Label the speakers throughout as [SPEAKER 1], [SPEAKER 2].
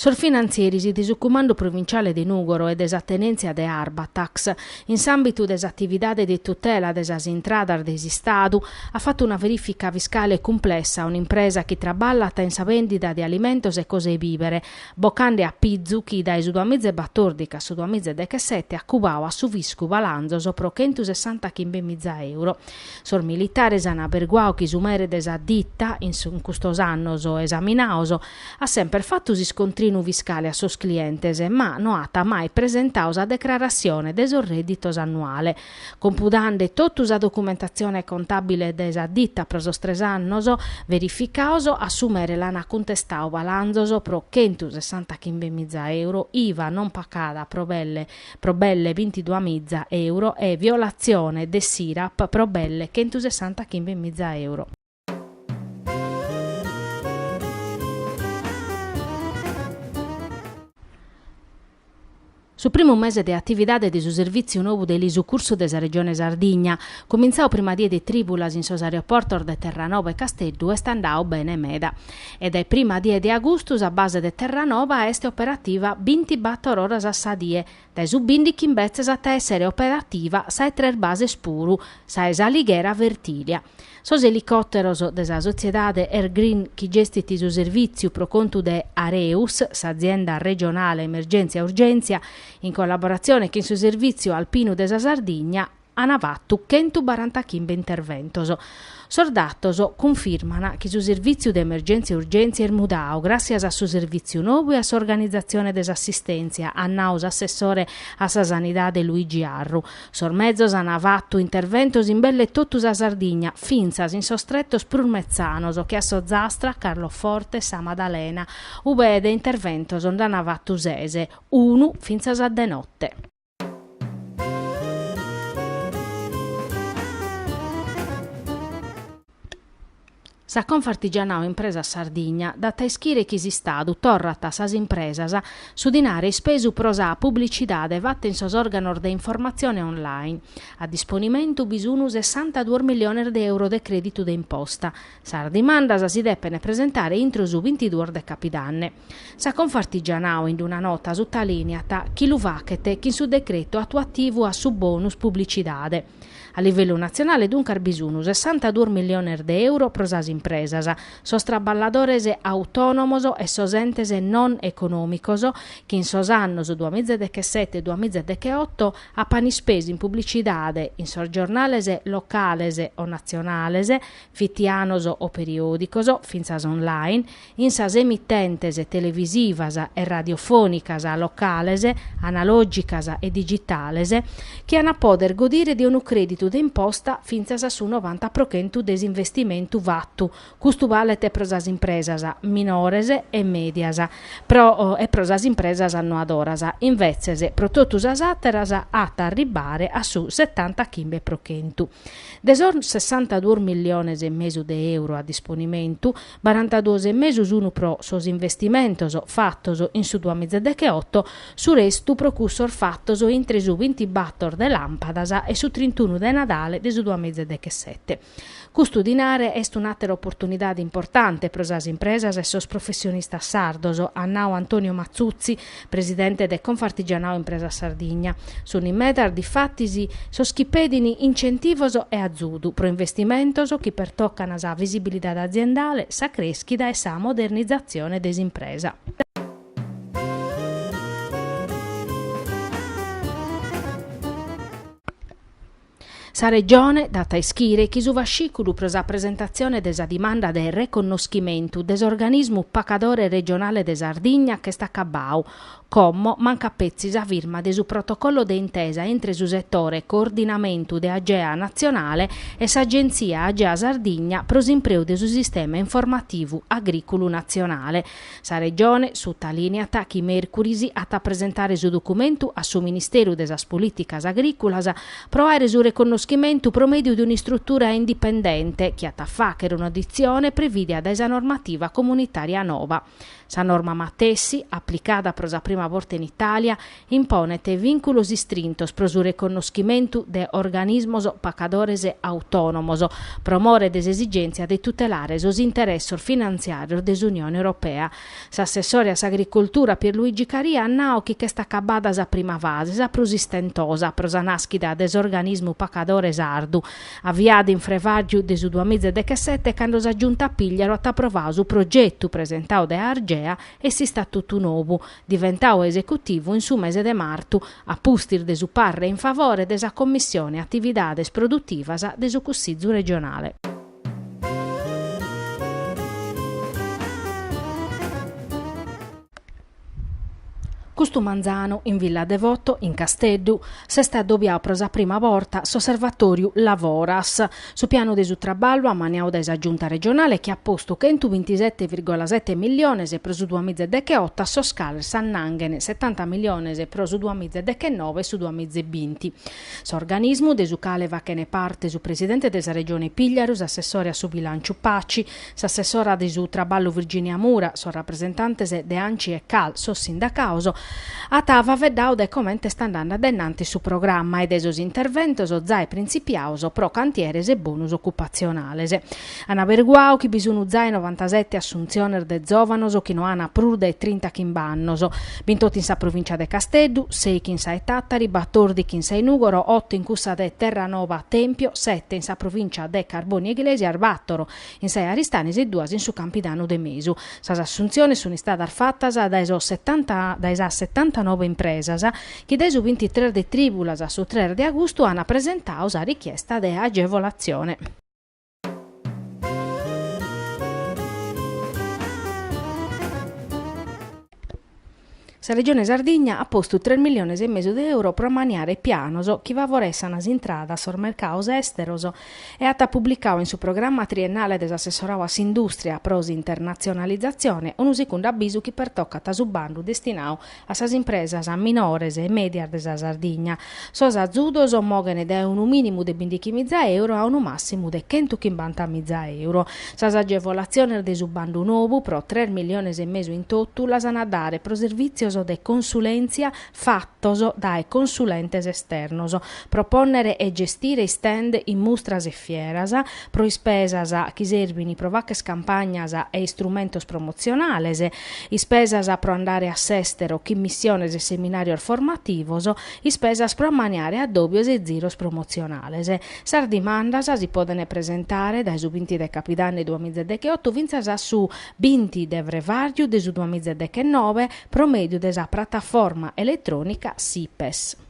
[SPEAKER 1] Sos finantzieris de su Cumandu Provinciale de Nùgoro e de sa tenèntzia de Arbatax, in s'àmbitu de s'atividade de tutela de sas intradas de s'Istadu, at fatu una verìfica fiscale cumplessa a un'impresa chi traballat in sa bèndida de alimentos e cosas 'e bìbere, bocande a pizu chi dae su duamiza e batòrdichi a su duamiza e dechesete at cubau a su fiscu balanzos pro chentu sessanta chimbemiza euro. Sos militares an aberguau chi su mere de sa ditta, in custos annos esaminaos, at semper fatu s'iscontrinu fiscale a sos clientes, ma no at mai presentau sa decrarassione de sos redditos annuales, Computande totu sa documentatzione contàbile de sa dita pro sos tres annos verificaos, a su mere l'ant cuntestau balanzos pro chentu sessantachimbe miza euro, iva non pacada pro belle pro belle bintidua miza euro e violatzione de s'IRAP pro belle chentu sessantachimbe miza euro. Su primu mese de atividade de su servìtziu nou de elisucursu de sa Regione Sardigna, cumintzau prima die de trìbulas in sos aeroportos de Terranova e Casteddu, est andau bene meda. E dae prima die de agustu sa base de Terranova est operativa bintibator oras a sa die, Dae su bìndichi imbetzes at a èssere operativa sa 'e tres bases puru, sa 'e s'Alighera Fertìlia. Sos elicòteros de sa sotziedade Air Green chi gestit su servìtziu pro contu de Areus, s'azienda regionale emergèntzia e urgèntzia, in collaboratzione chin su Servìtziu Alpinu de sa Sardigna, ana fatu chentu barantachimbe interventos. Sos datos cunfirmana chi su servìtziu de emergèntzia e urgèntzia est mudau gràssias a su servìtziu nou e a s'organizatzione de s'assistèntzia, at nau s'assessore a sa Sanidade Luigi Arru. Sos mezos ana fatu interventos in belle totu sa Sardigna, fintzas in sos tretos prus metzanos che a s'Ozastra, Carloforte, Sa Madalena, ube de interventos nd'ana fatu ses, unu fintzas a de notte. Sa Confartigianao Impresas Sardigna dat a ischire chi s'Istadu torrat a sas impresas su dinare ispesu pro sa publicidade fatta in sos organos de informatzione online. A disponimentu bi sunu sessanta duos milliones de euro de creditu de imposta. Sas dimandas si depene presentare intro su bintiduos de capidanne. Sa Confartigianao in una nota sutalèniat chi lu fachet chin su decretu atuativu a su bonus publicidade. A livellu natzionale duncas bi sun sessantaduos milliones de euro pro sas impresas, sos traballadores autònomos e sos entes non econòmicos chi in sos annos duamìgia e dechesete e duamìgia e decheoto apan ispesu in publicidade in sos giornales locales o natzionales, fitianos o periòdicos, fintzas online, In sas emittentes televisivas e radiofònicas locales, analògicas e digitales, chi an a pòdere godire de unu crèditu de imposta fintzas a su novanta pro chentu de s'investimentu fatu, custu balet pro sas impresas minores e mèdias e pro sas impresas annoadoras, invetzes pro totu sas àteras at a arribare a su setanta chimbe pro chentu. De sos sessanta duos miliones e mesu de euro a disponimentu, barantaduos e mesu sunu pro sos investimentos fatos in su duamizadecheotto, su restu pro cussos fatos intre su bintibator de Làmpadas e su trintunu de Nadale de su duamizadechesette. Custu dinare est un'àtera oportunidade importante pro sas impresas e sos professionistas sardos, at nau Antonio Matzutzi, presidente de Confartigianao Impresas Sardigna. Sunt in medas, difatis, sos chi pedin incentivos e azudu pro investimentos chi pertocan sa visibilidade aziendale, sa crèschida e sa modernizatzione de s'impresa. Sa Regione dat a ischire chi su fascìculu pro sa presentatzione de sa dimanda de reconnoschimentu de s'organismu pacadore regionale de Sardigna ch'est acabau, como mancat petzi sa firma de su protocollo de intesa intre su setore Coordinamentu de Agea Natzionale e s'Agenzia Agea Sardigna pro s'impreu de su sistema informativu agrìculu natzionale, Sa Regione sutalìneat chi mèrcuris at a presentare su documentu a su Ministeru de sas Polìticas Agrìculas pro àere su reconnoschimentu pro mèdiu de un'istrutura indipendente chi at a fàchere un'auditzione prevìdia dae sa normativa comunitària nova. Sa norma matessi, aplicada pro sa prima borta in Itàlia, imponet vìnculos istrintos pro su reconnoschimentu de organismos pacadores autònomos, pro more de s'esigèntzia de tutelare sos interessos finantziàrios de s'Unione Europea. S'assessore a s'Agricoltura Pierluigi Caria at nau chi ch'est acabada sa prima fase, sa prus istentosa pro sa nàschida de s'organismu pacadore sardu, aviada in frevàrgiu de su duamìgia e dechesete cando sa Giunta Pigliaru at aprovau su progetu presentau dae Argea e s'istatutu nou, diventau esecutivu in su mese de martu, a pustis de su parre in favore de sa Commissione Atividades Produtivas de su Cussizu regionale. Custu manzanu, in Villa Devoto, in Casteddu, s'est addobiau pro sa prima borta s'osservatoriu Lavoras, Su pianu de su traballu ammaniau dae sa Giunta regionale chi at postu chentu bintisete virgola sete milliones pro su duamize e decheotto a sos cales s'annanghen setanta milliones pro su duamize dechenove e su duamize e binti. S'organismu, de su cale fachen parte su presidente de sa Regione Pìgliaru, s'assessore a su bilànciu Paci, S'assessora de su Traballu Virginia Mura, sos rapresentantes de Anci e Cal, sos sindacaos, at faveddau de comente est andande addainnanti su programma e de sos interventos zae printzipiaos pro cantieres e bonus ocupatzionales. An aberiguau chi bi sun zae novantasete assuntziones de zòvanos chi no an prus dae trinta chimb'annos, Bint'otu in sa provìncia de Casteddu, seichi in sa 'e Tàtari, batordichi in sa 'e Nùgoro, otu in cussa de Terranova, Tèmpio, sete in sa provìncia de Carbonia Iglesias, batoro in sa 'e Aristanis e duas in su Campidanu de Mesu. Sas assuntziones sunt istadas fatas dae sas setantanobe impresas chi dae su bintitres de trìbulas a su tres de agustu ant presentau sa richiesta de agevolatzione. Sa Regione Sardigna at postu tres milliones e mesu de euro pro ammaniare pianos chi favoressana s'intrada a sos mercados èsteros e at publicadu in su programma triennale de s'assessoradu a s'indùstria pro s'internatzionalizatzione unu sicundu abisu chi pertocat su bandu destinau A sas impresas minores e mèdias de sa Sardigna. Sos azudos moghen dae unu mìnimu de bindichimiza euro a unu màssimu de chentu chimbantamiza euro. Sas agevolatziones de su bandu novu, pro tres milliones e mesu in totu, las an a dare pro servìtzios de consulèntzia fatos dae consulentes esternos, pro pònnere e gestire stand in mustras e fieras, pro ispesas chi serbin pro facher campagnas e istrumentos promotzionales, ispesas pro andare a s'èstero, chin missiones e seminàrios formativos, ispesas pro ammaniare addòbios e ziros promotzionales. Sas dimandas si podent presentare dae su binti de capidanni duamize decheotto fintzas a su binti de frevàriu de su duamize dechenobe pro mèdiu de sa prataforma eletrònica Sipes.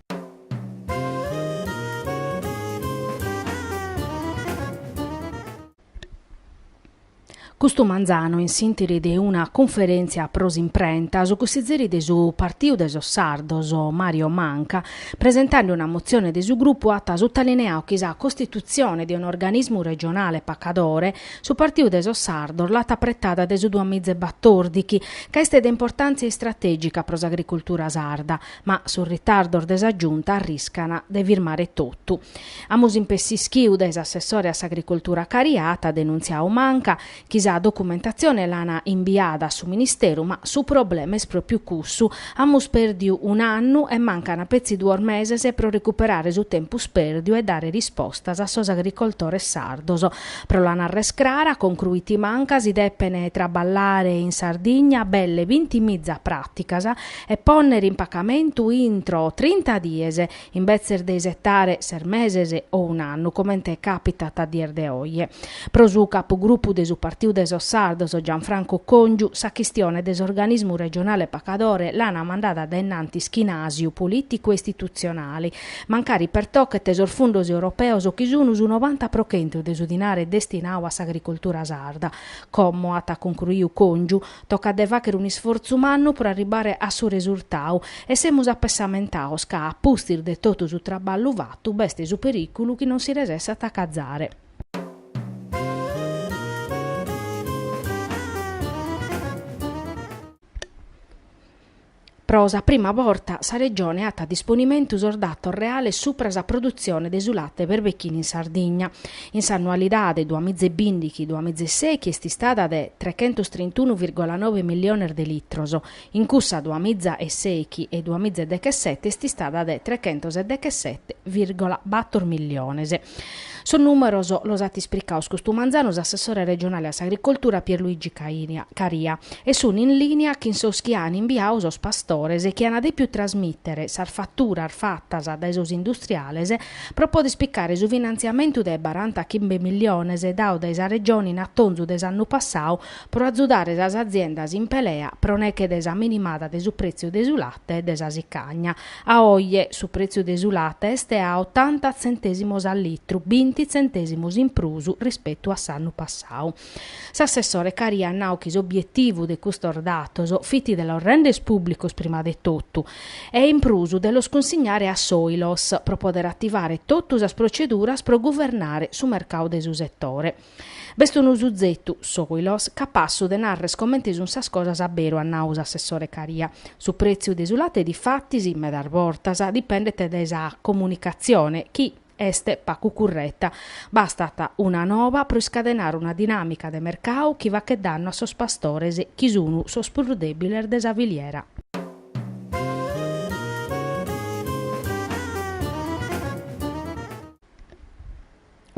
[SPEAKER 1] Custu manzanu, in s'interi de una cunferentzia pro s'imprenta, su cussizeri de su Partiu de sos Sardos, Mario Manca, presentande una motzione de su grupu at sutalineau chi sa costitutzione de un'organismu regionale pacadore su Partiu de sos Sardos l'at apretada de su duamiza e batòrdichi ca est de importantzia istrategica pro s'agricultura sarda, ma sos ritardos de sa Giunta arriscana de firmare totu. Amus impessischiu dae s'assessore a s'agricoltura Caria, at denuntziau Manca, chi sa documentatzione l'ana imbiada a su ministeru, ma su problema est pròpiu cussu, amus pèrdiu un'annu e mancana petzi duos meses pro recuperare su tempus pèrdiu e dare rispostas a sos agricoltores sardos. Pro la narrer crara, concruit Manca, si depen traballare in Sardigna belle binti miza pràticas e pònnere in pacamentu intro trinta dies, imbetzes de isetare ses meses o un'annu, comente càpitat a dies de oje. Pro su capugrupu de su Partiu de sos Sardos, Gianfranco Còngiu, sa chistione de s'organismu regionale pacadore l'ana mandada a dae innantis chin àsiu polìticu e istitutzionale, mancari pertochet sos fundos europeos chi sun su novanta pro chentu de su dinare destinau a s'agricoltura sarda, como at cuncruiu Còngiu, Tocat de fàchere un'isfortzu mannu pro arribare a su resurtau e semus apessamentaos ca a pustis de totu su traballu fatu b'est su perìculu chi non si resessat a cazare. Pro sa prima borta sa Regione at a disponimentu sos datos reales supra sa produtzione de su late berbechinu in Sardigna. In s'annualidade duas miza e bìndichi duas miza e sèichi est istada de trechentos trintunu virgola nobe milliones de litros, in cussa duas miza e sèichi e duas miza e dechesete est istada de trechentos e dechesete virgola bator milliones. Sos nùmeros los at ispricaos custu manzanu s'assessore regionale a s'agricoltura Pierluigi Caria e sunt in lìnia chin sos chi an imbiau sos pastores chi an dèpiu trasmìtere sas faturas fatas dae sos industriales pro pòdere picare su finantziamentu de baranta chimbe milliones dau dae sa Regione in atonzu de s'annu passau pro azudare sas aziendas in pelea pro neche de sa minimada de su prètziu de su late e de sa sicagna. A oje su pretziu de su late est a otanta tzentèsimos a litru, binti tzentèsimos in prus rispetu a s'annu passau. S'assessore Caria at nau chi s'obietivu de custos datos fit de los rènder pùblicos prima de totu e in prus de los cunsignare a s'Oilos pro poder ativare totu sas proceduras pro guvernare su mercadu de su setore. B'est unu suzetu, Soilos, capassa de narrer comente sun sas cosas aberu, at nau s'assessore Caria. Su pretziu de su latte difatis, medas bortas, dipendet dae sa comunicatzione, chi est pacu curreta. Bastat una noba pro iscadenare una dinamica de mercau chi fachet dannu a sos pastores, chi sun sos prus debiles de sa filiera.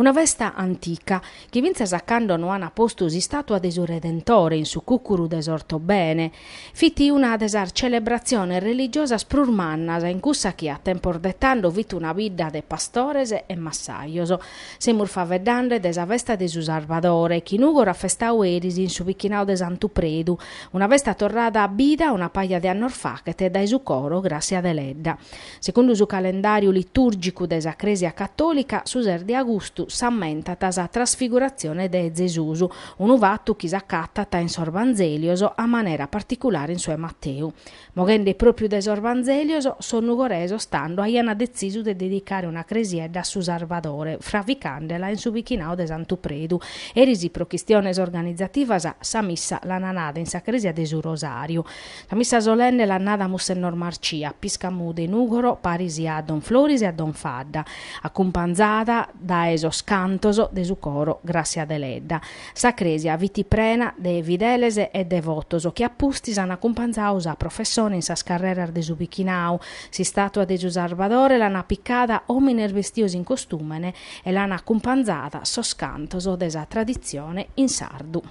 [SPEAKER 1] Una festa antica, chi fintzas a cando no an postu s'istàtua de su Redentore in su cùcuru de s'Ortobene, fit una de sas celebratziones religiosas prus mannas in cussa chi a tempos de tando fit una bidda de pastores e massajos. Semus faveddande de sa festa de su Sarbadore, chi Nùgoro at festau eris in su bichinau de Santu Predu, una festa torrada a bida una paja de annos fachet dae su coro Gràssia Deledda. Segundu su calendàriu litùrgicu de sa Crèsia catòlica, su ses de austu s'ammentat sa Trasfiguratzione de Zesus, unu fatu chi s'acatat in sos Vanzèlios, a manera particulare in su 'e Mateu. Moghende pròpriu de sos Vanzèlios, sos nugoresos de tando aiant detzisu de dedicare una cresiedda a su Sarbadore, fravicande·la in su bichinau de Santu Predu. Eris pro chistiones organizativas sa missa l'ant nada in sa Crèsia de su Rosàriu. Sa missa solenne l'at nada Mussenor Marcia, pìscamu de Nùgoro paris a Don Floris e a Don Fadda, acumpanzada dae sos cantos de su coro Grassia Deledda. Sa cresia fit prena de fideles e devotos chi a pustis an acumpanzau sa professone in sas carreras de su bichinau. S'istatua de su Sarbadore l'ana picada omines bestios in costumene e l'an acumpanzada sos cantos de sa traditzione in sardu.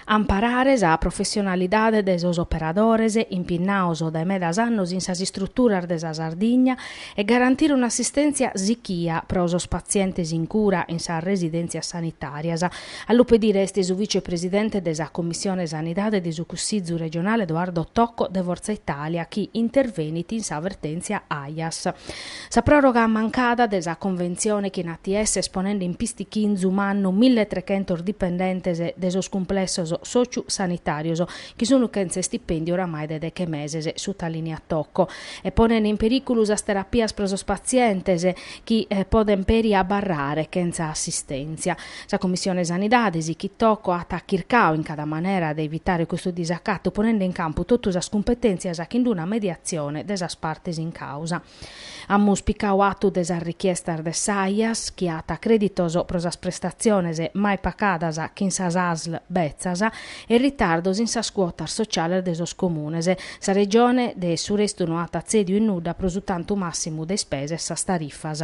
[SPEAKER 1] amparare sa professionalidade de sos operadores impinnaos dae medas annos in sas istruturas de sa Sardigna e garantire un'assistèntzia sichia pro sos patzientes in cura in sas residèntzias sanitàrias, a lu pedire est su vicepresidente de sa Commissione Sanidade de su Cussizu regionale Edoardo Tocco de Fortza Italia chi intervenit in sa vertèntzia Aias. Sa pròroga mancada de sa conventzione chin ATS est ponende in pistichinzu mannu milli e trechentos dipendentes de sos cumplessos sòciu sanitàrios chi sun chentza istipèndiu oramai de deche meses sutalìniat Tocco e ponende in perìculu sas terapias pro sos patzientes chi podent peri abarrare chentza assistèntzia. Sa Commissione Sanidade sichit Tocco at chircau in cada manera de evitare custu disacatu ponende in campu totu sas cumpetèntzias chin una mediatzione de sas partes in càusa. Amus picau atu de sas richiestas de s'Ajas, chi at crèditos pro sas prestatziones mai pacadas chin sas asl betzas e ritardos in sas cuotas sociales de sos comunes. Sa Regione de su restu no at atzèdiu in nudda pro su tantu màssimu de ispesa e sas tarifas.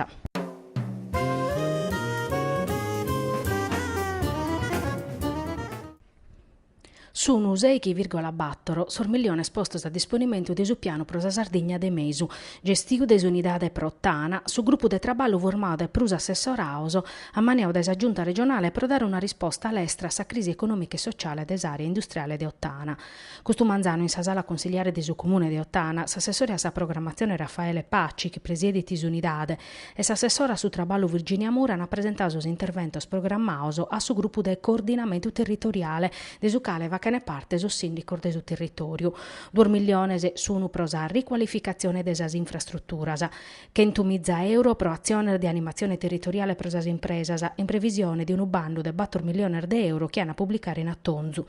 [SPEAKER 1] Sunu sèighi vìrgola bàtoro sos milliones postos a disponimentu de su Pianu pro sa Sardigna de Mesu, gestiu dae s'Unidade pro Ottana, su grupu de traballu formau dae prus assessoraos, ammaniau dae sa Giunta regionale pro dare una risposta lestra a sa crisi econòmica e sotziale de s'àrea industriale de Ottana. Custu manzanu in sa Sala Consiliare de su Comune de Ottana, s'assessore a sa Programmatzione Raffaele Paci, chi presiedit s'Unidade, e s'assessora a su traballu Virginia Mura an presentau sos interventos programmaos a su grupu de coordinamentu territoriale, de su cale fachen parte sos sìndicos de su territòriu. Duos milliones sun pro sa ricualificatzione de sas infrastruturas, chentu miza euro pro atziones de animatzione territoriale pro sas impresas, in previsione de unu bandu de bator milliones de euro chi an a publicare in atonzu.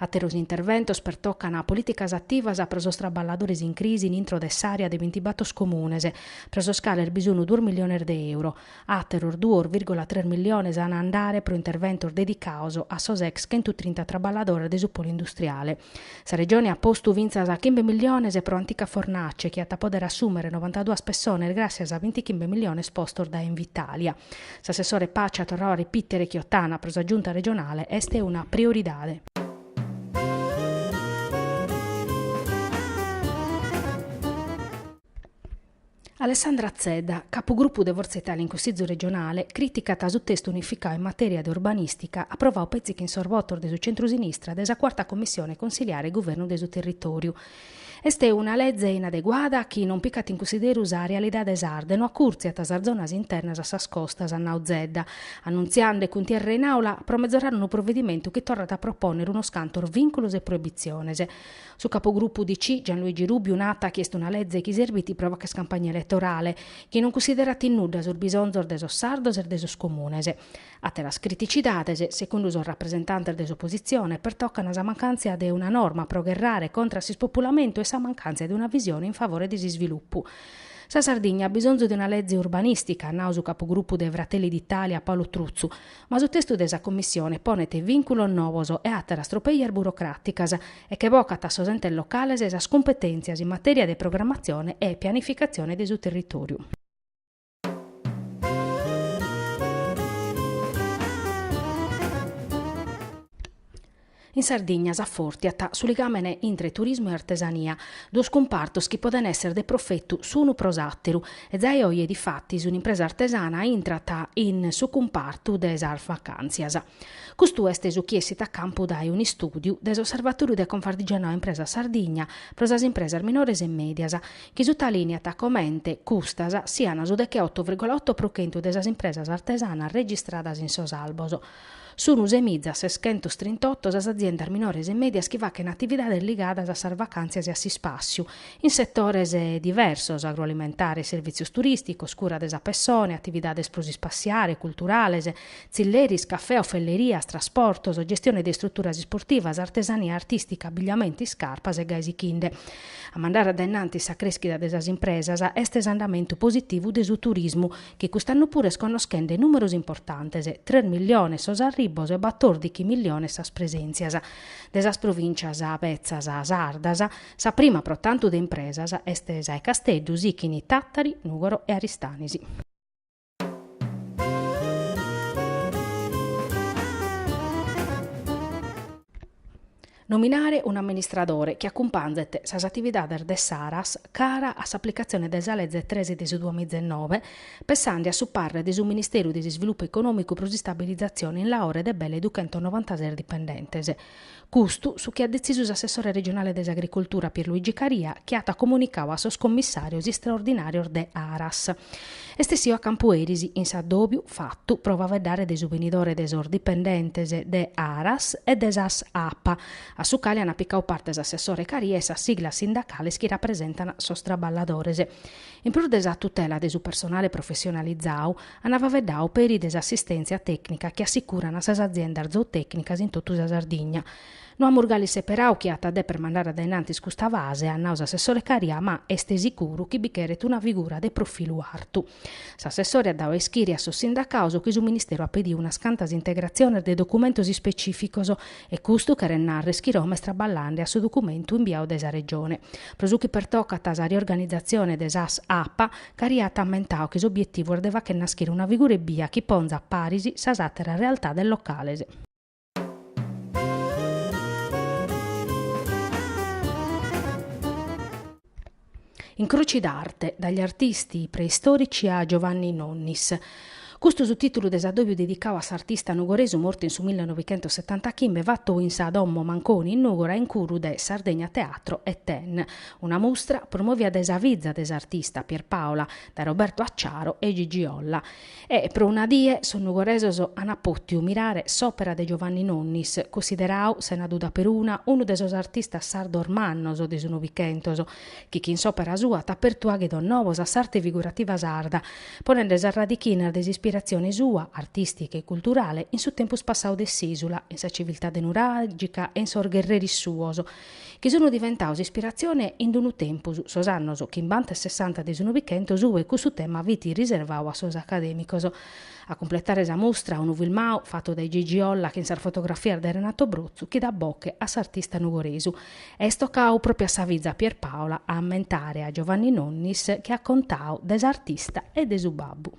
[SPEAKER 1] Àteros interventos pertocan polìticas ativas pro sos traballadores in crisi in intro de s'àrea de bintibator comunes, pro sos cales bi sun duos milliones de euro. Àteros duos vìrgula tres milliones an a andare pro interventos dedicaos a sos ex chentu trinta traballadores de su polu industriale. Sa Regione at postu fintzas chimbe milliones pro Antica Fornace, chi at a pòdere assùmere novantaduas pessones gràssias a bintichimbe milliones postos dae Invitalia. S'assessore Paci at torrau a repìtere chi Ottana pro sa Giunta regionale est una prioridade. Alessandra Zedda, capugrupu de Fortza Italia in Cussizu regionale, crìticat su testu unificau in matèria de urbanìstica aprovau petzi chin sos votos de su centru-sinistra de sa cuarta commissione consiliare e guvernu de su territòriu, Est una leze inadeguada chi non picat in cussideru sa realidade sarda e no acurtziat sas zonas internas a sas costas, at nau Zedda, annuntziande cuntierra in aula pro mezorar unu provedimentu chi torrat a propònnere unos cantos vìnculos e proibitziones. Su capugrupu UDC, Gianluigi Rubiu, nat chi est una leze chi serbit pro fàcher campagna eletorale, chi non cussiderat in nudda sos bisonzos de sos sardos e de sos comunes. Àteras criticidades, secundu sos rapresentantes de s'opositzione, pertocan sa mancàntzia de una norma pro gherrare contra a s'ispopulamentu e sa mancàntzia de una visione in favore de s'isvilupu. Sa Sardigna at bisonzu de una leze urbanìstica, at nau su capugrupu de Fratelli d'Italia Paolo Truzzu, ma su testu de sa Commissione ponet vìnculos novos e àteras tropèias burocràticas e che bocat a sos entes locales sas cumpetèntzias in matèria de programmatzione e pianificatzione de su territòriu. In Sardigna s'afòrtiat su ligàmene intre turismu e artesania, duos cumpartos chi podent èssere de profetu s'unu pro s'àteru, e zai oje difatis un'impresa artesana intrat in su cumpartu de sas vacàntzias. Custu est su chi essit a campu dae un'istùdiu de s'Osservatòriu de Confartigianato Impresas Sardigna pro sas impresas minores e mèdias, chi sutalìniat comente custas sian su decheoto vìrgola oto pro chentu de sas impresas artesanas registradas in sos albos. Sun semiza seschentos trintoto sas aziendas minores e mèdias chi fachen atividades ligadas a sas vacàntzias e a s'ispàssiu, in setores diversos, agroalimentare, sirvìtzios turìsticos, cura de sa pessone, atividades pro s'ispàssiare, culturales, tzilleris, cafè, ofellerias, trasportos, gestione de istruturas isportivas, artesania artistica, abbigliamentu e iscarpas e gai sichinde. A mandare a dae innantis sa creschida de sas impresas est s'andamentu positivu de su turismu, chi cust'annu puru est connoschende numeros importantes, tres milliones sos arribbos e batordichi milliones sas presentzias. De sas provintzias betzas sardas, sa prima pro tantu de impresas est sa 'e Casteddu, sichini Tattari, Nugoro e Aristanis. Nominare un'amministradore chi acumpanzet sas atividades de s'Aras cara a s'aplicatzione de sa Leze tres de su duamiza e noe, pensande a su parre de su Ministeru de s'Isvilupu Econòmicu pro s'istabilizatzione in Laore de belle duchentos novantases dipendentes. Custu su chi at detzisu s'assessore regionale de s'Agricultura Pierluigi Caria chi at comunicau a sos commissàrios istraordinàrios de Aras. Est essiu a campu eris in s'addòbiu fatu pro faveddare de su benidore de sos dipendentes de Aras e de sas Apa, a su cale ant picau parte s'assessore Caria e sas siglas sindacales chi rapresentana sos traballadores. In prus de sa tutela de su personale professionalizau, Ana faveddau peri de s'assistèntzia tècnica chi assicuran a sas aziendas zootècnicas in totu sa Sardigna. No amus gali seperau chie at a deper mandare a dae in antis custa fase, at nau s'assessore Caria, ma est sicuru chi bi cheret una figura de profilu artu. S'assessore at dau a ischiri a sos sindacaos chi su Ministeru at pediu unas cantas integratziones de documentos ispecìficos e custu cheret narrer chi Roma est traballande a su documentu imbiau dae sa Regione. Pro su chi pertocat sa riorganizatzione de sas Apa, Caria at ammentau chi s'obietivu est de facher naschire una figura ebbia chi ponzat paris sas àteras realtades locales. Incroci d'arte, dagli artisti preistorici a Giovanni Nonnis, Custu su tìtulu de s'addòbiu dedicau a s'artista nugoresu mortu in su millenovichentossetantachimbe fatu in sa Domo Manconi in Nùgora in curu de Sardegna Teatro e Ten, una mustra promovia dae sa fiza de s'artista, Pierpaola, dae Roberto Acciaro e Gigi Olla. E pro una die sos nugoresos ana pòtiu mirare s'òpera de Giovanni Nonnis, considerau, sena duda peruna, unu de sos artistas sardos mannos de su Novichentos, chi chin s'òpera sua at apertu àghidos nobos a s'arte figurativa sarda, ponende sas radichinas de s'ispirazione sua, artìstica e culturale, in su tempus passau de s'ìsula, in sa civiltade nuràgica e in sos gherreris suos, chi sunt diventaus ispirazione in d-unu tempus, sos annos chimbanta e sessanta de su Novichentos, ue cussu tema fit riservau a sos acadèmicos. A cumpletare sa mustra, unu filmau fatu dae Gigi Olla chin sas fotografias de Renato Brotzu chi dat boche a s'artista nugoresu, Est tocau pròpiu a sa fiza Pierpaola a ammentare a Giovanni Nonnis chi at contau de s'artista e de su babbu.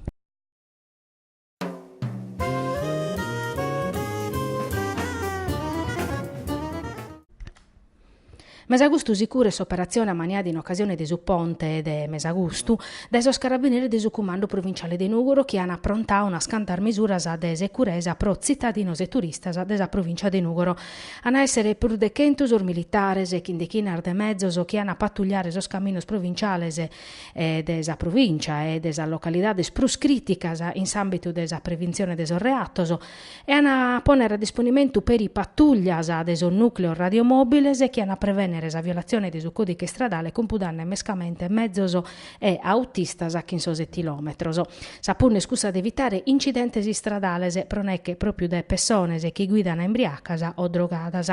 [SPEAKER 1] Mesagustu sicuru est s'operatzione ammaniada in ocasione de su ponte de mesagustu dae sos carabineris de su cumandu provinciale de Nùgoro chi an aprontau unas cantas misuras de securesa pro tzitadinos e turistas de sa provìncia de Nùgoro An a èssere prus de chentu sos militares e chin dechinas de mezos chi an a patugliare sos caminos provinciales de sa provìncia e de sas localidades prus crìticas in s'àmbitu de sa preventzione de sos reatos e an a pònnere a disponimentu peri patùglias de sos nùcleos radiomòbiles chi an a prevènnere sa violatzione de su còdiche istradale cumpudanne mescamente mezos e autistas chin sos etilòmetros. Sa punna est cussa de evitare incidentes istradales pro neche pròpiu dae pessones chi guidana imbriacas o drogadas.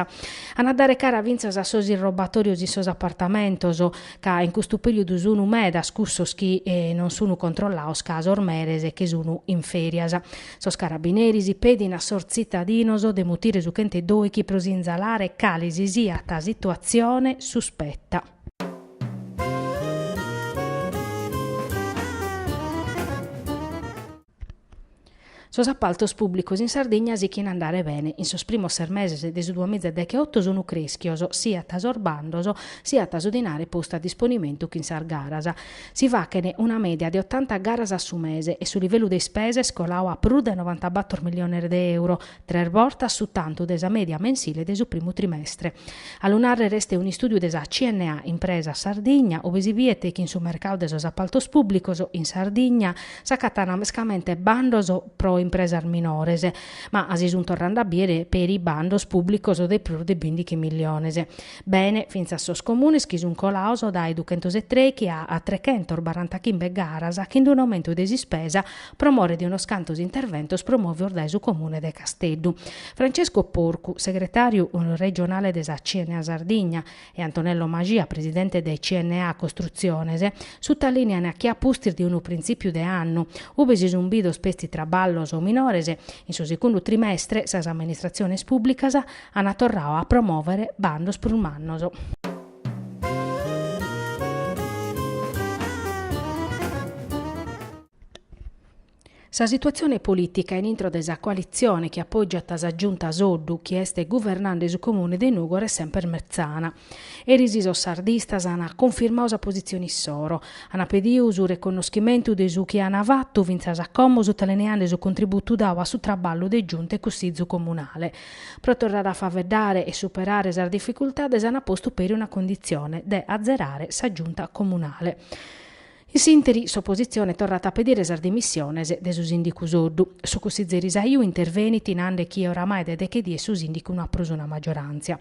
[SPEAKER 1] An a dare cara fintzas a sos irrobatòrios in sos apartamentos, ca in custu perìodu sun medas cussos chi non sun controllaos ca sos meres che sun in fèrias. Sos carabineris pedin a sos tzitadinos de mutire su chent'e dòichi pro sinzalare cale si siat situatzione suspeta. Sos apaltos pùblicos in Sardigna sichint a andare bene, in sos primos ses meses de su duamiza e decheoto sunt crèschios siat sos bandos siat su dinare postu a disponimentu chin sas garas. Si fachent una mèdia de otanta garas a su mese e su livellu de ispesa est colau a prus de novanta bator miliones de euro, tres bortas su tantu de sa mèdia mensile de su primu trimestre. A lu nàrrere est un'istùdiu de sa CNA Impresas Sardigna, ue si biet chi in su mercau de sos apaltos pùblicos in Sardigna s'acatant mescamente bandos pro impresas minores, ma si sun torrande a biere peri bandos pùblicos de prus de bìndichi miliones. Bene, fintzas sos comunes chi sun colaos dae duchentos e trèichi a trechentos barantachimbe garas chin d'unu aumentu de s'ispesa pro more de unos cantos interventos promovidos dae su Comune de Casteddu. Francesco Porcu, segretàriu regionale de sa CNA Sardigna, e Antonello Mascia, presidente de CNA Costrutziones, sutalìnean chi a pustis de unu printzìpiu de annu, ube si sunt bidos petzi traballos minores, in su segundu trimestre sas amministratziones pùblicas ant torradu a promòvere bandos prus mannos. Sa situatzione polìtica in intro de sa coalitzione chi apògiat sa Giunta Soddu chi est guvernande su Comune de Nùgoro est semper metzana. Eris sos sardistas ant cunfirmadu sa positzione issoro, ant pedidu su reconnoschimentu de su chi ant fatu fintzas a como sutalineande su contributu dadu a su traballu de Giunta e Cussizu Comunale. Pro torrare a faveddare e superare sas dificultades ant postu peri una conditzione de azerare sa Giunta Comunale. In s'interi s'opositzione torrat a pedire sas dimissiones de su sìndicu Soddu. Su cussizeri Saiu intervenit nande chi oramai de deche dies su sìndicu no at prus una maggioràntzia.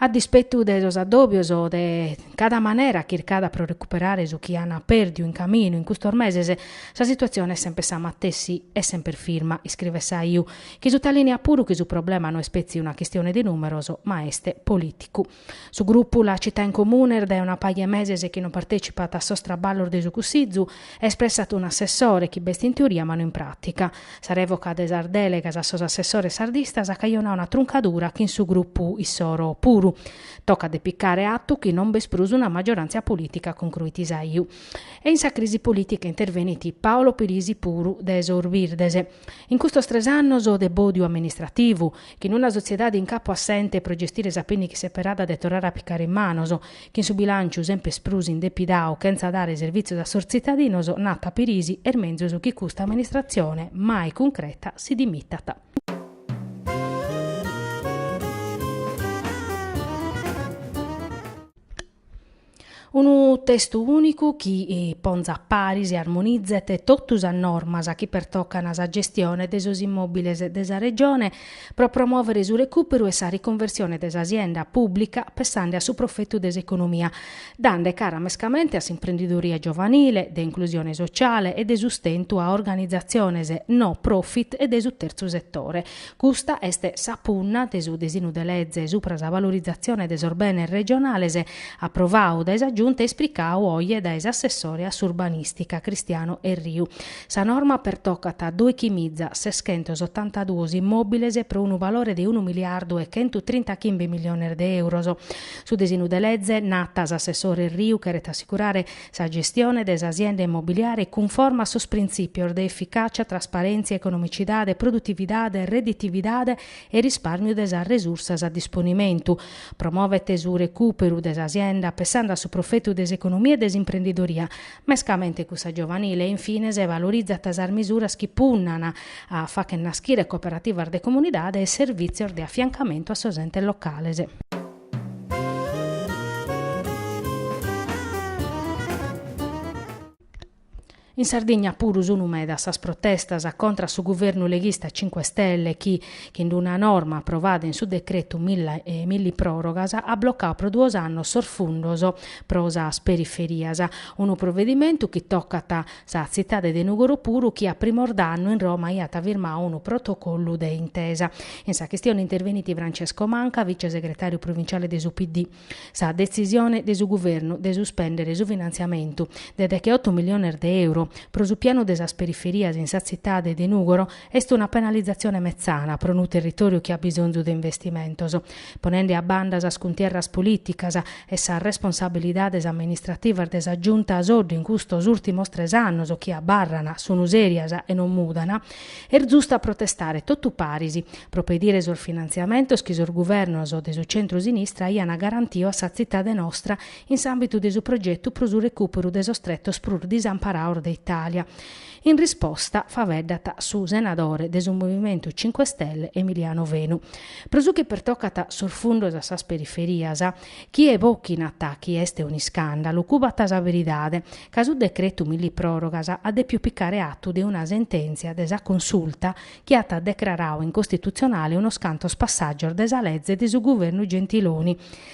[SPEAKER 1] A dispetu de sos addòbios de cada manera chircada pro recuperare su chi an pèrdiu in caminu in custos meses, sa situatzione est semper sa matessi e semper firma, iscrivet Saiu, chi sutalìneat puru chi su problema no est petzi una chistione de nùmeros ma est polìticu. Su grupu La Città in Comune est dae una paja 'e meses chi non partècipat a sos traballos de su Cussizu e espressat un assessore chi b'est in teoria ma no in pràtica. Sa rèvoca de sas dèlegas a sos assessores sardistas at cajonadu una truncadura chin su grupu issoro puru. Tocat de picare atu chi non b'est prus una maggioràntzia polìtica, concruit Saiu. E in sa crisi polìtica intervenit Paolo Pirisi puru de sos Birdes. In custos tres annos de bòdiu amministrativu, Chin una sotziedade in capu a s'ente pro gestire sa pìnnica seperada de torrare a picare in manos, chin su bilànciu semper prus indepidadu chentza dare servìtzios a sos tzitadinos, nat Pirisi, est menzus chi custa amministratzione, mai cuncreta, si dimitat. Unu testu ùnicu chi ponzat paris e armonizet totu sas normas chi pertocant sa gestione de sos immòbiles de sa Regione pro promòvere su recùperu e sa riconversione de sa sienda pùblica pensende a su profetu de s'economia, dande cara mescamente a s'imprendidoria giovanile, de inclusione sociale e de sustentu a organizatziones no profit e de su terzu setore. Custa est sa punna de su disinu de leze supra sa valorizatzione de sos benes regionales aprovadu dae sa Giunta e ispricadu oje dae s'assessore a s'urbanìstica Cristiano Erriu. Sa norma pertocat a dòichi miza seschentos otanta duos immòbiles pro unu valore de unu miliardu e chentu trinta chimbe miliones de èuros. Su disinu de leze, nat s'assessore Erriu, cheret assicurare Sa gestione de s'asienda immobiliare cunforma a sos printzìpios de eficàcia, trasparèntzia, economicidade, produtividade, redditividade e rispàrmiu de sas resursas a disponimentu. Promovet su recùperu de s'asienda pensande a su profetu de s'economia e de s'imprendidoria, mescamente cussa giovanile e in fines valorizat sas misuras chi punnan a fagher naschire cooperativas de comunidade e servìtzios de afiancamentu a sos entes locales. In Sardigna puru sunu medas sas protestas contra su guvernu leghista Cinque Stelle chi, chin d'una norma aprovada in su decretu millipròrogas, at blocau pro duos annos sos fundos pro sas periferias, unu provedimentu chi tocat Sa tzitade de Nùgoro puru chi a primos d'annu in Roma aiat firmau unu protocollu de intesa. In sa chistione intervenit Francesco Manca, vice-segretàriu provinciale de su PD. Sa detzisione de su guvernu de suspèndere su finantziamentu de deche-otu miliones de euro pro su pianu de sas periferias in sa tzitade de Nùgoro Est una penalizatzione metzana pro unu territòriu chi at bisonzu de investimentos, ponende a banda sas cuntierras polìticas e sas responsabilidades amministrativas de sa Giunta Soddu in custos ùltimos tres annos chi abarran, sun sèrias e non mudan, est zustu a protestare totu paris pro pedire sos finantziamentos chi sos guvernos de su centro-sinistra aian garantiu a sa tzitade nostra in s'àmbitu de su progetu pro su recùperu de sos tretos prus disamparaos de Itàlia. In risposta faveddat su senadore de su Movimentu Cinque Stelle Emiliano Fenu. Pro su chi pertocat sos fundos a sas periferias, chie bochinat chi est un'iscàndalu cubat sa veridade, ca su decretu millipròrogas at dèpiu picare atu de una sentèntzia de sa Consulta chi at decrarau incostitutzionale unos cantos passàgios de sa leze de su guvernu Gentiloni,